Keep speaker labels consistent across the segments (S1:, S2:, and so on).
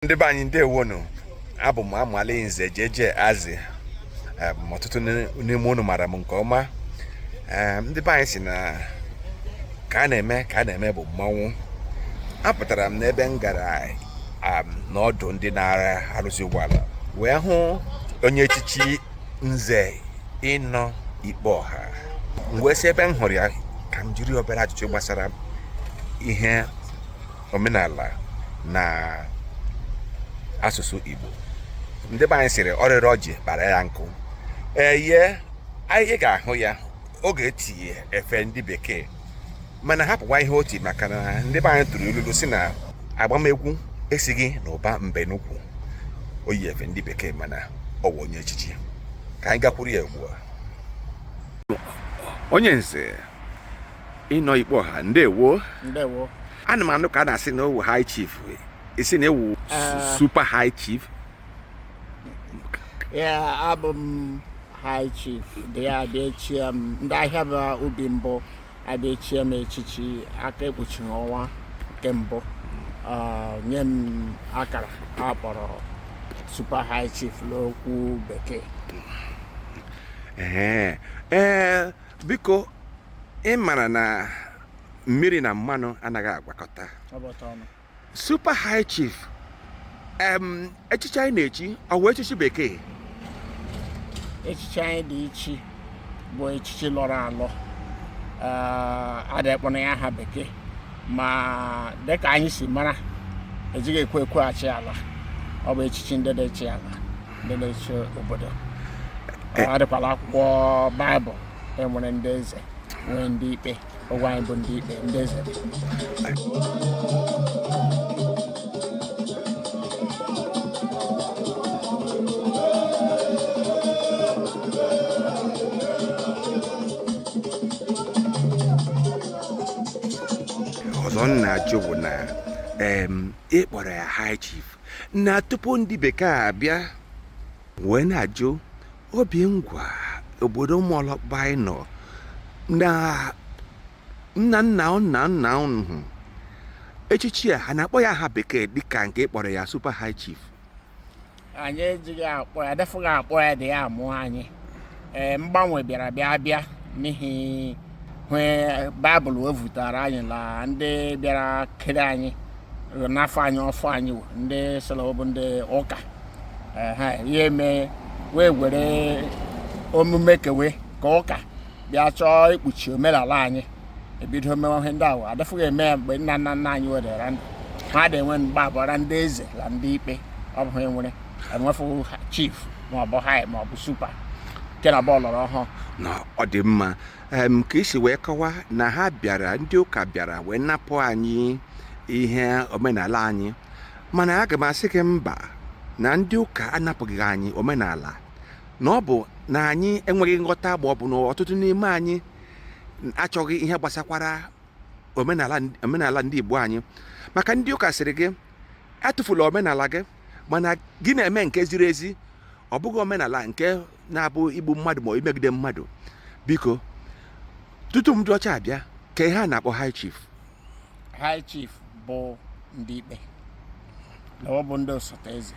S1: ndị be anyị ndewonu abụ m amali nze jeje azi ọtụtụ n'ime unu mara m nke ọma ndị be anyị sị na ka a na-eme ka a na-eme bụ mmanwụ apụtara m n'ebe m gara n'ọdụ ndị na-arụzi ụgbọala wee hụ onye echichi nze Inno Ikpeoha m wee sị ebe m hụrụ ya ka m jiri obere ajụjụ gbasara ihe omenala na asụsụ Igbo ndị be anyị sịrị ọrịrị ọjị kpara ya nkụ eye anyị ga-ahụ ya ọ ga-eti efe ndị bekee mana hapụkwa ihe o ti maka na ndị be anyị tụrụ ilulu sị na agbamegwu esighị na ụba mbe n'ukwu o yi efe ndị bekee mana ọ bụ onye echichi ka anyị gakwuru ya ugbu a onye nze Inno Ikpeoha ndewo
S2: ndewo ana m anụ ka
S1: a na-asị na ọ wụ high chief ị sị na ị wụ eh. super high chief ee
S2: abụ m high chief ndị a abịa chie m ndị Ahịaba Ubi mbụ abịa chie m echichi aka ekpuchi ọnwa nke mbụ ah, nye m akara a kpọrọ super high chief n'okwu bekee ee
S1: biko ị mara na mmiri na mmanụ anaghị agwakọta super high chief echichi anyị na-echi ọ wụ echichi bekee
S2: echichi anyị dị echi bụ echichi lọrọ alọ adị akpọ ya aha bekee ma dịka anyị si mara ejighị ekwe ekwe achị ala ọ bụ echichi ndị dị achị ala ndị na-achị obodo eh. adịkwa la akwụkwọ baịbụl e nwere ndị eze nwee ndị ikpe ọ wụ anyị bụ ndị ikpe ndị eze
S1: ọzọ m na-ajụ bụ na ị kpọrọ ya high chief na tupu ndị bekee abịa wee na-ajụ Obingwa obodo ụmụọlọkpa anyị nọ na nna nna nna nna unu echichi a ha na-akpọ ya aha bekee dịka nke ị kpọrọ ya super high chief
S2: anyị ejighị akpọ ya defughị akpọ ya dị ya amụọ anyị ee mgbanwe bịara bịa bịa n'ihi hwe baịbụl wevutara anyị na ndị bịara kere anyị nafụ anyị ọfọ anyị wụ, ndị sị la ọ bụ ndị ụka ehe ya eme wee were omume ke we ke ụka bịa chọọ ikpuchi omenala anyị ebido mewe ihe ndị ahụ adịfụghị eme ya mgbe nna nna nna anyị wedara ndụ ha dị enwe mgbe abụọra ndị eze na ndị ikpe ọ bụ ha nwere enwefu chief maọbụ high maọbụ super nke na bụ ọlọrọ ọhụụ na ọ
S1: dị mma em ka i si wee kọwa na ha bịara ndị ụka bịara wee napụ anyị ihe omenala anyị mana aga m asị gị mba na ndị ụka anapụghị anyị omenala na ọ bụ na anyị enweghị nghọta ma ọ bụ na ọtụtụ n'ime anyị achọghị ihe gbasakwara omenala omenala ndị Igbo anyị maka ndị ụka sịrị gị atụfula omenala gị mana gị na-eme nke ziri ezi ọ bụghị omenala nke na-abụ igbu mmadụ maọbụ imegide mmadụ biko tutu ndị ọcha abịa kee ihe a na-akpọ high chief high
S2: chief bụ ndị ikpe na ọ bụ ndị osote eze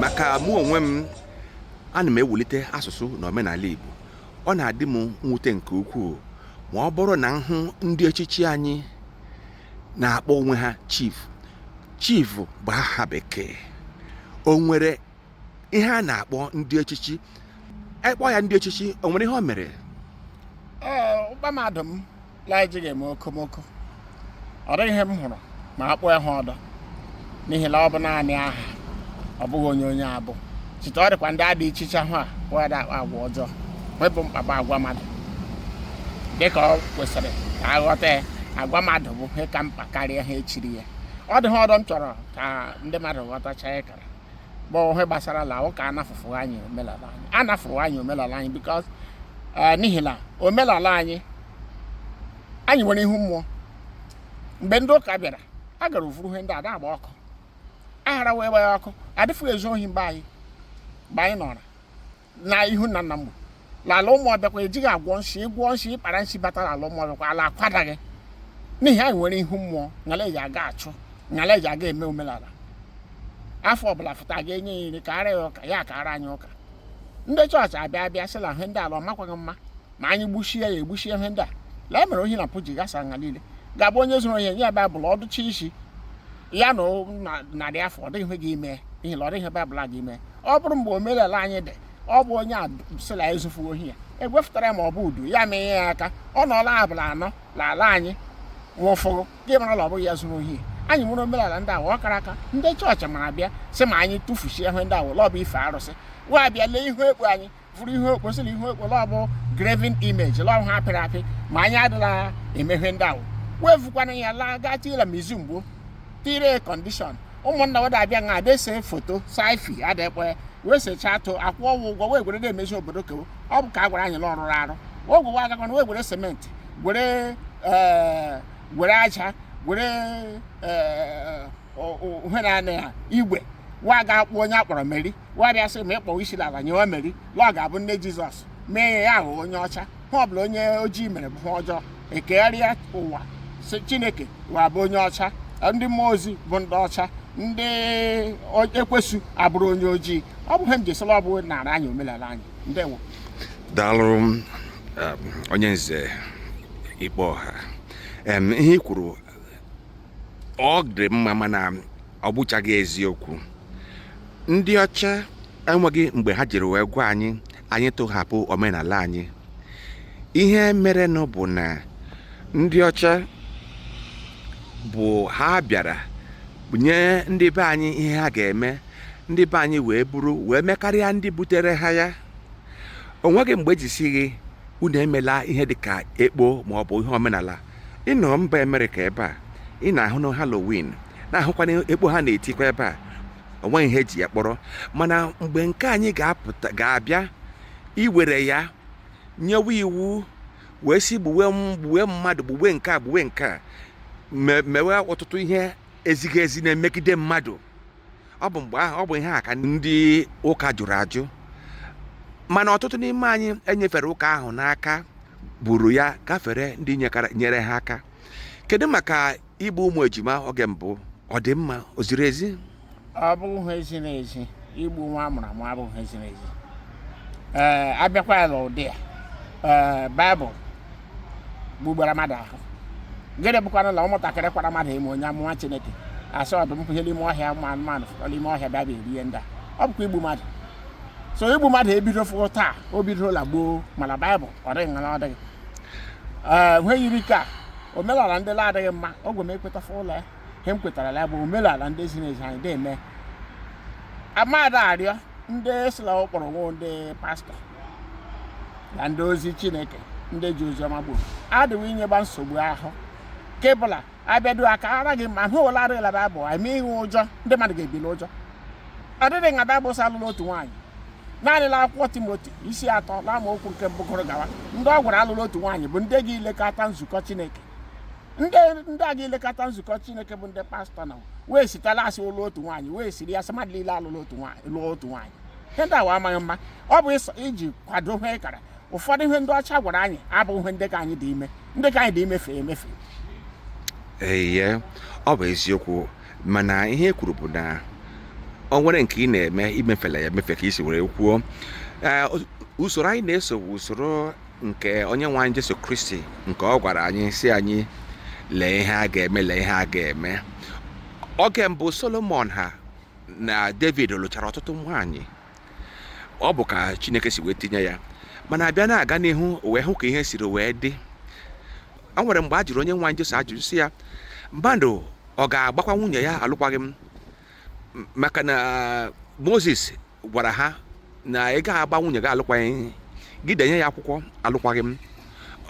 S1: maka mụ onwe m ana m ewulite asụsụ na omenala Igbo ọ na-adị m mwute nke ukwuu ma ọ bụrụ na m hụ ndị echichi anyị na-akpọ onwe ha chief chief bụ aha bekee o nwere ihe a na-akpọ ndị echichi ị kpọọ ya ndị echichi o nwere ihe o mere ụkpa
S2: mmadụ m la ejighị eme okomoko ọ dịghị ihe m hụrụ ma a kpọọ ya aha ọdọ n'ihi na ọ bụ naanị aha ọ bụghị onye onye abụ chite ọ dịkwa ndị a dị echicha ahụ a we da akpa agwa ọjọọ hwe bụ mkpa bụ agwa mmadụ dịka ọ kwesịrị ka a ghọta ya agwa mmadụ bụ ihe ka mkpa karịa aha e chiri ya ọ dị hwe ọdọ m chọrọ ka ndị mmadụ ghọtacha ya kara bụ ihe gbasara la ụka anafụfụ anyị omenala anyị anafụrụ anyị omenala anyị because eh, n'ihi na omenala anyị anyị nwere ihu mmụọ mgbe ndị ụka bịara a gara vuru ihe ndị a da agba ọkụ aghara wee gbaa ya ọkụ adịfụghị ezu ohi mgbe anyị mgbe anyị nọrọ na ihu nna nna m la ala ụmụ ọbịakwa ejighị agwọ nshi ịgwọ nshi ịkpara nshi batara ala ụmụ ọbịakwa ala akwadaghị n'ihi anyị nwere ihu mmụọ nga la eji aga achụ nga la eji aga eme omenala afọ ọbụla fụta ga enye ya nri kaara ya ụka ya kaara anyị ụka ndị chọọchị abịa abịa sị na ihe ndị a la ọ makwaghị mma ma anyị gbuchie ya egbuchie ihe ndị a lee mere ohi na mpụ ji gasa nga niile ga-abụ onye zuru ihe e nye ya baịbụl ọ dụchie isi ya na narị afọ ọ dịghị gị ime ihe na ọ dịghị baịbụl a gị ime ọ bụrụ mgbe omenala anyị dị ọ bụ onye a sịla ezufu ohi ya egwefụtara ma ọ bụ udu ya mee ya aka ọ nọọla abụla anọ n'ala anyị nwụfụhụ gị mara na ọ bụghị ya zuru ohi anyị nwere omenala ndị awa ọ kara aka ndị chọọchị mara bịa sị ma anyị tụfuchie ihe ndị awa la ọ bụ ife arụsị wa bịa lee ihu ekpo anyị fụrụ ihu ekpo sị na ihu ekpo la ọ bụ graven image la ọ ihe apịrị apị ma anyị adịla eme ihe ndị ahụ wee vukwara ya laa gaa ti la museum gbo tire kọndishọn ụmụnna wa da-abịa nga a da-ese foto saifi adekpe wee sechaa too akwụọ wa ụgwọ wee gwere na-emezi obodo ke wo ọ bụ ka a gwara anyị na ọ rụrụ arụ ogwe wa agakwana wee gwere sementi gwere eh, gwere aja gwere eh, ihe na anị ha igwe wa ga-akpụ onye a kpọrọ meri wa bịa sị ma ị kpọwa isi ala nyewe meri la ọ ga-abụ nne jizọs mee ya ahụ onye ọcha ihe ọbụla onye ojii mere bụ ihe ọjọọ e kegharịa ụwa sị chineke wa bụ onye ọcha ndị mmụọ ozi bụ ndị ọcha ndị ekwesu abụrụ onye ojii ọ bụ ihe m ji sị la a bunara anyị omenala anyị ndewo daalụ um,
S1: onye nze ikpeọha ihe i kwuru ọ dị mma mana ọ bụchaghị eziokwu ndị ọcha enweghị mgbe ha jiri wee gwa anyị anyị tụhapụ omenala anyị ihe merenụ bụ na ndị ọcha bụ ha bịara nye ndị be anyị ihe ha ga-eme ndị be anyị wee buru wee mekarịa ndị butere ha ya o nweghị mgbe e ji sị gị unu emela ihe dịka ekpo maọbụ ihe omenala ị nọ mba amerịka ebe a ị na-ahụnụ halloween na-ahụkwanụ ekpo ha na-etikwa ebe a onweghị ihe eji ya kpọrọ mana mgbe nke anyị ga-apụta ga-abịa e were ya nyewe iwu wee si gbuwe gbuwe mmadụ gbuwe nke a gbuwe nke a mewe ọtụtụ ihe ezighị ezi na-emegide mmadụ ọ bụ mgbe ahụ ọ bụ ihe a ka ndị ụka jụrụ ajụ mana ọtụtụ n'ime anyị e nyefere ụka ahụ n'aka buru ya gafere ndị nyekara- nyere ha aka kedu maka igbu ụmụ ejima oge mbụ ọ dị mma o ziri ezi ọ bụghị
S2: ihe ziri ezi igbu nwa a mụrụ amụ abụghị ihe ziri ezi ee abịakwa ya n'ụdị ya ee baịbụl gbugbara mmadụ ahụ gịnị bụkwanụ na ụmụntakịrị kwara mmadụ emo onye amụma chineke asị ọdụm pụhe n'ime ọhịa ụmụ anụmanụ fụkọrọ ime ọhịa bịa bịa erie ndị a ọ bụkwa igbu mmadụ so igbu mmadụ ebidofụghị taa o bidola gboo mana baịbụl ọ dịghị nga ọ dịghị ee ihe yiri ka omenala ndị na-adịghị mma ogwe m ekwetafụ la ya ihe m kwetara ya bụ omenala ndị ziri ezi anyị na-eme amadị arịọ ndị si la ọ kpọrọ nwa ndị pastọ na ndị ozi chineke ndị ji oziọma gburu adịwo inyeba nsogbu ahụ kebụla abịadu a kara gị ma hụ ụla arịla baịbụl eme ihe ụjọ ndị mmadụ ga-ebi n'ụjọ ọ dịghị nga baịbụl sị alụla otu nwaanyị naanị la akwụkwọ timoti isi atọ na amaokwu nke mbụ gụrụ gawa ndị ọ gwara alụla otu nwaanyị bụ ndị ga-elekọta nzukọ chineke ndị ndị a ga-elekọta nzukọ chineke bụ ndị pastọ na wee site la a sị lụọ otu nwaanyị wee siri ya sị mmadụ niile alụla otu nwaanyị lụọ otu nwaanyị ihe ndị awa amaghị mma ọ bụ ịsọ- iji kwado ihe ị kara ụfọdụ ihe ndị ọcha gwara anyị abụghị ihe ndị ka anyị dị ime ndị ka anyị dị imefe emefe
S1: eye ọ bụ eziokwu mana ihe e kwuru bụ na o nwere nke ị na-eme i mefela ya emefe ka i si were kwuo Ee, usoro anyị na-eso bụ usoro nke onye nwe anyị Jesu Kristi nke ọ gwara anyị sị anyị lee ihe a ga-eme lee ihe a ga-eme oge mbụ Solomon ha na David lụchara ọtụtụ nwaanyị ọ bụ ka Chineke si wee tinye ya mana a bịa na-aga n'ihu wee hụ ka ihe siri wee dị o nwere mgbe a jụrụ onye nwe anyị Jesu ajụjụ sị ya mmadụ ọ ga-agbakwa nwunye ya alụkwaghị m maka na Moses gwara ha na ị ga-agba nwunye gị alụkwaghị gị denye ya akwụkwọ alụkwaghị m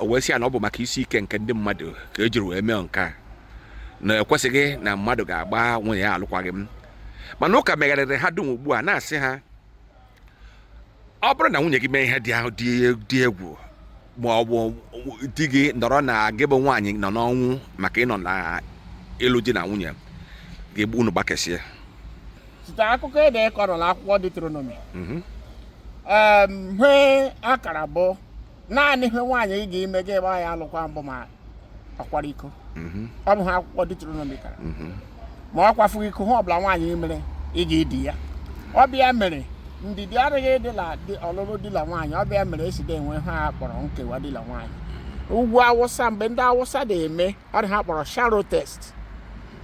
S1: o wee sị ya na ọ bụ maka isi ike nke ndị mmadụ ka e jiri wee mee nke a na e kwesịghị na mmadụ ga-agba nwunye ya alụkwaghị m mana ụka megharịrị ha dum ugbu a na-asị ha ọ bụrụ na nwunye gị mee ihe dị dị egwu ma ọ bụ di gị nọrọ na gị bụ nwaanyị nọ n'ọnwụ maka ịnọ na ịlụ di na nwunye ga-egbu unu gbakesịa
S2: site akụkọ e dekọrọ n'akwụkwọ Deuteronomy mhm. ihe a kara bụ naanị ihe nwaanyị ị ga-ime gị gba ya alụkwaghị m bụ ma ọ kwara iko mhm. ọ bụ ihe akwụkwọ Deuteronomy kara mhm. ma ọ kwafughị iko ihe ọbụla nwaanyị mere ị ga-edi ya ọ bụ ya mere ndidi adịghị dị la ọlụlụ di na nwaanyị ọ bụ ya mere e si de enwe ihe a kpọrọ nkewa di na nwaanyị ugwu awụsa mgbe ndị awụsa na-eme ọ dị ihe a kpọrọ sharo test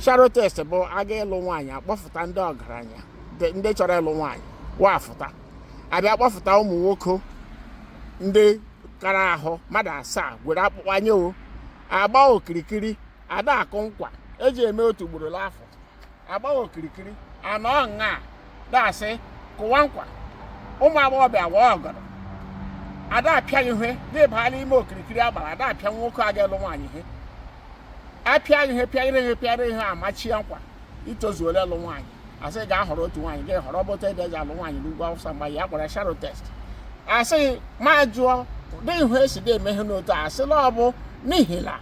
S2: sharo test bụ a ga-ịlụ nwaanyị a kpọfụta ndị ọgaranya ndị chọrọ ịlụ nwaanyị wa fụta a bịa kpọfụta ụmụ nwoke ndị kara ahụ mmadụ asaa gwere akpụkpọ anya o a gbaa okirikiri a da akụ nkwa e ji eme otu ugboro n'afọ a gbaa okirikiri a nọọ nga dasị kụwa nkwa ụmụ agbọghọbịa a waa ọgọdọ a da apịa ihe gị baa n'ime okirikiri a gbara a da apịa nwoke a ga-alụ nwaanyị ihe a pịa gị ihe pịa gị ihe pịa gị ihe amachie nkwa i tozuola ịlụ nwaanyị asị ga-ahọrọ otu nwaanyị gị ahọrọ bụta ede eji alụ nwaanyị n'ugwu awụsa mgbe ya kpọrọ sharo test asị m ajụọ dị ihu esi dị eme ihe n'otu a a sị la ọ bụ n'ihi na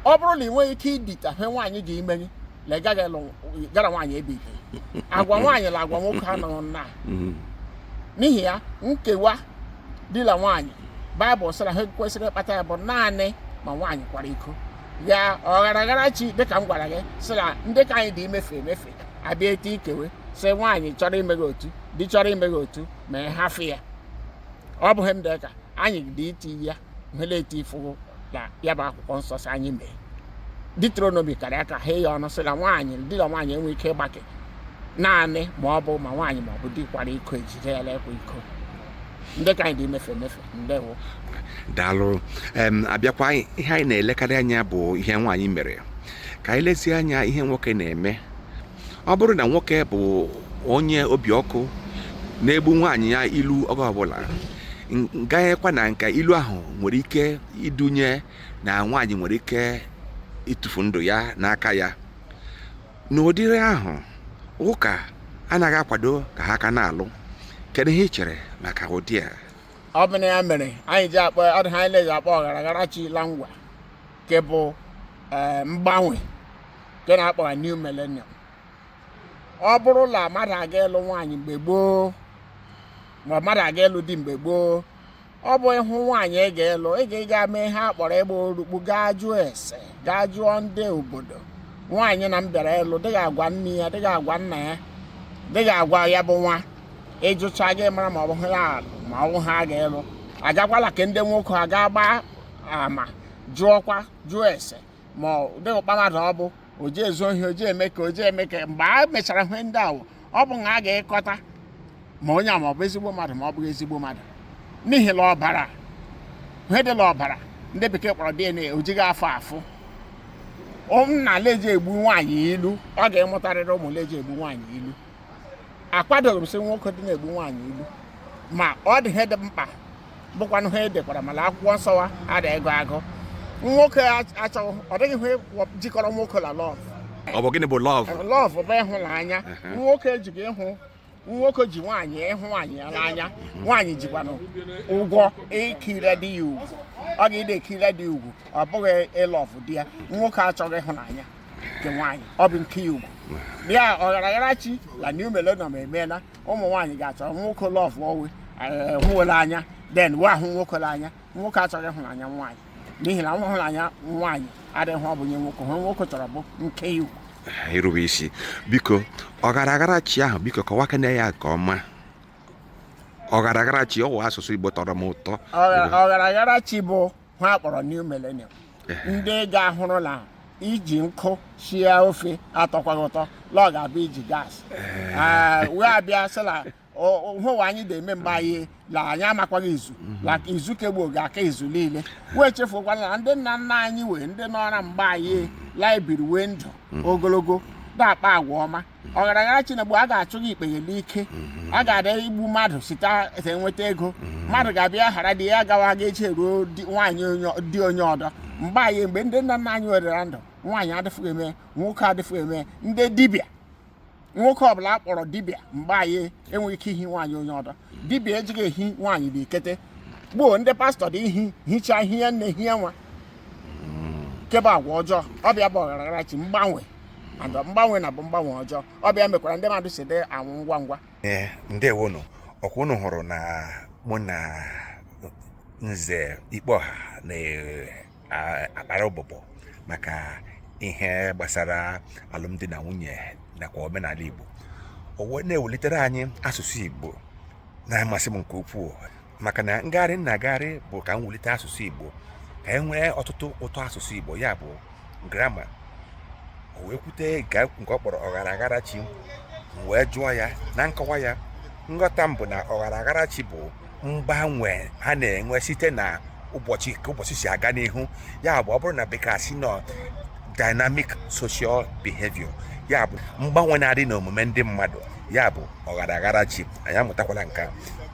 S2: ọ bụrụ na ị nweghị ike idita he nwaanyị ga-imeri na ị gaghị alụ nwaanyị ebe ite agwa nwaanyị na agwa nwoke anọghị nnaa mm-hmm. n'ihi ya nkewa di la nwaanyị baịbụl sịra he kwesịrị ịkpata ya bụ naanị ma nwaanyị kwara iko ya ọgharaghara chi dịka m gwara gị sị na ndị ka anyị dị emefe emefe abịa ete ikewe sị nwaanyị chọrọ ime gị otu di chọrọ ime gị otu ma ị hafụ ya ọ bụghị m dịka anyị dị iti ya nwere eti ifụgụ na ya bụ akwụkwọ nsọ sị anyị mee Deuteronomy kara aka ha ya ọnụ sị na nwaanyị di na nwaanyị enwe ike ịgbake naanị ma ọ bụ ma nwaanyị ma ọ bụ di kwara iko ejide ya la-akwa iko ndị ka anyị dị emefe emefe ndewo daalụ
S1: em abịakwa anyị- ihe anyị na-elekarị anya bụ ihe nwaanyị mere ka anyị lezie anya ihe nwoke na-eme ọ bụrụ na nwoke bụ onye obi ọkụ na-egbu nwaanyị ya ilu oge ọbụla n- gaghịkwa na nka ilu ahụ nwere ike idunye na nwaanyị nwere ike ịtụfu ndụ ya n'aka ya n'ụdịrị ahụ ụka anaghị akwado ka ha ka na-alụ kedu ihe ị chere maka ụdị a ọ bụ na ya
S2: mere anyị ji akpọ ọ dị he anyị na-eji akpọ ọgharaghara chi la Ngwa nke bụ ee, mgbanwe nke na-akpọgha new millennium ọ bụrụ na mmadụ ga-ịlụ nwaanyị mgbe gboo ma mmadụ ga-ịlụ di mgbe gboo ọ bụ ị hụ nwaanyị ị ga-ịlụ ị ga-ịga mee ihe a kpọrọ ịgba orukpu gaa jụọ ese gaa jụọ ndị obodo nwaanyị na m bịara ịlụ dịghị agwa nne ya dịghị agwa nna ya dịghị agwa ya bụ nwa ị jụchaa gị amara ma ọ bụ ya ma ọ bụ ha ga-ịlụ agakwa la ke ndị nwoke agaa gbaa ama jụọkwa jụọ ese ma dịghị ụkpa mmadụ ọ bụ o ji ezu ohi o ji eme ke o ji eme ke mgbe a mechara ihe ndị ahụ ọ bụ nga a ga-ịkọta ma onye a ma ọ bụ ezigbo mmadụ ma ọ bụghị ezigbo mmadụ n'ihi na ọbara ihe dị na ọbara ndị bekee kpọrọ DNA o jighị afụ afụ nna la-eji egbu nwaanyị ilu ọ ga-ịmụtarịrị ụmụ la-eji egbu nwaanyị ilu akwadoghị m sị nwoke dị na-egbu nwaanyị ilu ma ọ dị ihe dị mkpa bụkwanụ he e dekwara ma na akwụkwọ nsọ wa a dị agụ agụ nwoke achọghị ọ dịghị ihe jikọrọ nwoke na love ọ bụ gịnị bụ
S1: love love bụ
S2: ịhụnanya nwoke ejighị ịhụ nwoke ji nwaanyị ịhụ nwaanyị ya n'anya nwaanyị jikwanụ ụgwọ ikire di ya ugwu ọ ga-ịdị ekire di ugwu ọ bụghị ịlọvụ di ya nwoke achọghị ịhụnanya nke nwaanyị ọ bụ nke ya ugwu bịa ọgharagharachi la new millennium emeela ụmụ nwaanyị ga-achọ nwoke lọvụọ we hụ we la anya then we ahụ nwoke la anya nwoke achọghị ịhụnanya nwaanyị n'ihi la ịhụnanya nwaanyị adịghị ọ bụ nye nwoke ihe nwoke chọrọ bụ nke ya ugwu irube
S1: isi biko ọgharagharachi ahụ biko kọwakene ya nke ọma ọgharagharachi ọ wụ asụsụ igbo tọrọ m ụtọ ọgharagharachi
S2: bụ ha kpọrọ new millennium ndị ga-ahụrụ la iji nkụ sie ofe atọkwaghị ụtọ la ọ ga-abụ iji gas Ah, we abịa sị na o- o- hụwa anyị dị eme mgbe anyị la anyị amakwaghị izu la ka izu ke gbuo ga-aka izu niile we echefukwala na ndị nna nna anyị we ndị nọra mgbe anyị la ebiri wee ndụ ogologo dị akpa agwa ọma ọgharagharachi na bụ a ga-achụ gị ikpe ya n'ike a ga-adị egbu mmadụ site enweta ego mmadụ ga-abịa ghara di ya gawa ga eche ruo di- nwaanyị onye- di onye ọdọ mgbe anyị mgbe ndị nna nna anyị werera ndụ nwaanyị adịfụghị eme nwoke adịfụghị eme ndị dibịa nwoke ọbụla a kpọrọ dibịa mgbe anyị enweghị ike ihi nwaanyị onye ọdọ dibịa ejighị ehi nwaanyị dị ikete gbuo ndị pastọ dị ehi hichaa hie nne hie nwa kebe agwa ọjọọ ọ bịa bụ ọgharagharachi mgbanwe and mgbanwe na bụ mgbanwe ọjọọ ọ bịa mekwara ndị mmadụ si dị anwụ ngwa ngwa ee
S1: ndewonụ ọkwa unu hụrụ na mụ na nze ikpeọha na-akpara ụbụbọ maka ihe gbasara alụmdi na nwunye nakwa omenala igbo o wee na-ewelitere anyị asụsụ igbo na-amasị m nke ukwuu maka na ngagharị m na-agagharị bụ ka m wulite asụsụ igbo ka e nwee ọtụtụ ụtọ asụsụ igbo ya bụ grama o wee kwute nke ọ kpọrọ ọgharagharachi m wee jụọ ya na nkọwa ya nghọta m bụ na ọgharagharachi bụ mgbanwe ha na-enwe site na ụbọchị ka ụbọchị si aga n'ihu ya bụ ọ bụrụ na bekee sị na ọ dynamic social behavior ya bụ mgbanwe na-adị n'omume ndị mmadụ ya bụ ọgharagharachi anyị amụtakwala nke a